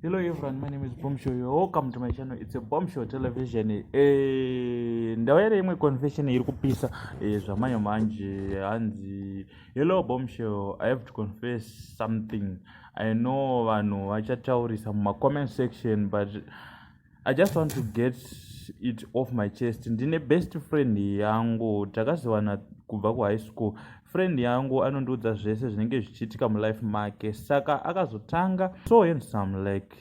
Hello everyone, my name is Bombshell. You're welcome to my channel. It's a Bombshell Television. Eh, ndawera imwe confession iri kupisa eh, zvamanyo manje hanzi Hello Bombshell, I have to confess something. I know vanhu vachataurisa muma comment section but i just want to get it off my chest ndine best friend yangu takaziwana kubva kuhigh school friend yangu anondiudza zvese zvinenge zvichiitika mulife make saka akazotanga so handsome like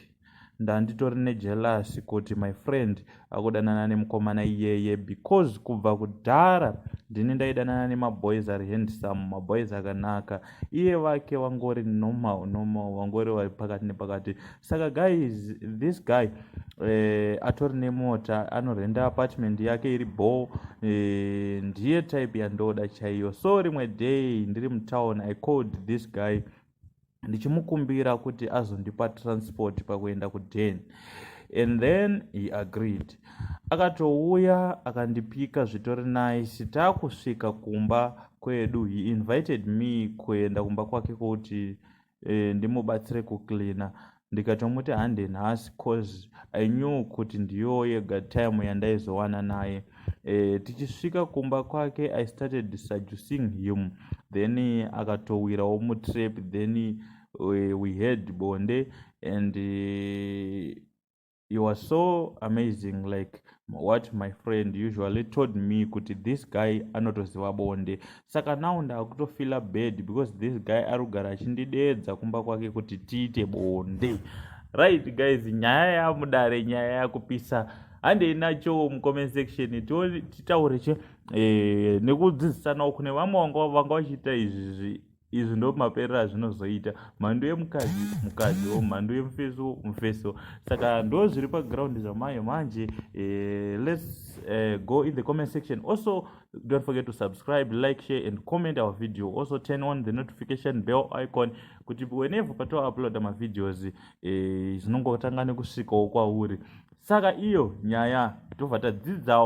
ndanditori nejelasi kuti my friend akudanana nemukomana iyeye because kubva kudhara ndini ndaidanana nemaboys ari handsome maboys akanaka iye vake vangori normal normal vangori vari pakati nepakati saka guys this guy eh, atori nemota anorenda apartment yake iri bho eh, ndiye type yandoda chaiyo so rimwe day ndiri mutown i called this guy ndichimukumbira kuti azondipa transport pakuenda kuden and then he agreed akatouya akandipika zvitori nice taakusvika kumba kwedu he invited me kuenda kumba kwake kuti e, ndimubatsire kucleana ndikatomuti hande nhasi cause i knew kuti ndiyo yega time yandaizowana naye e, tichisvika kumba kwake i started seducing him then akatowirawo mutrap then we, we had bonde and uh, you are so amazing like what my friend usually told me kuti this guy anotoziva bonde saka now ndakutofila bad because this guy ari kugara achindideedza kumba kwake kuti tiite bonde right guys nyaya yamudare nyaya yakupisa handei nacho mucomment section titaure che eh, nekudzidzisanawo kune vamwe vanga vachiita izvi izvi ndo maperero azvinozoita mhando yemukadzi mukadzi wo mhando yemufeso mufeso saka ndo zviri paground zvamayo manje eh, lets eh, go in the comment section also don't forget to subscribe like share and comment our video also turn on the notification bell icon kuti whenever patouploada mavideos eh, zvinongotanga nekusvikawo kwauri saka iyo nyaya tobva tadzidzawo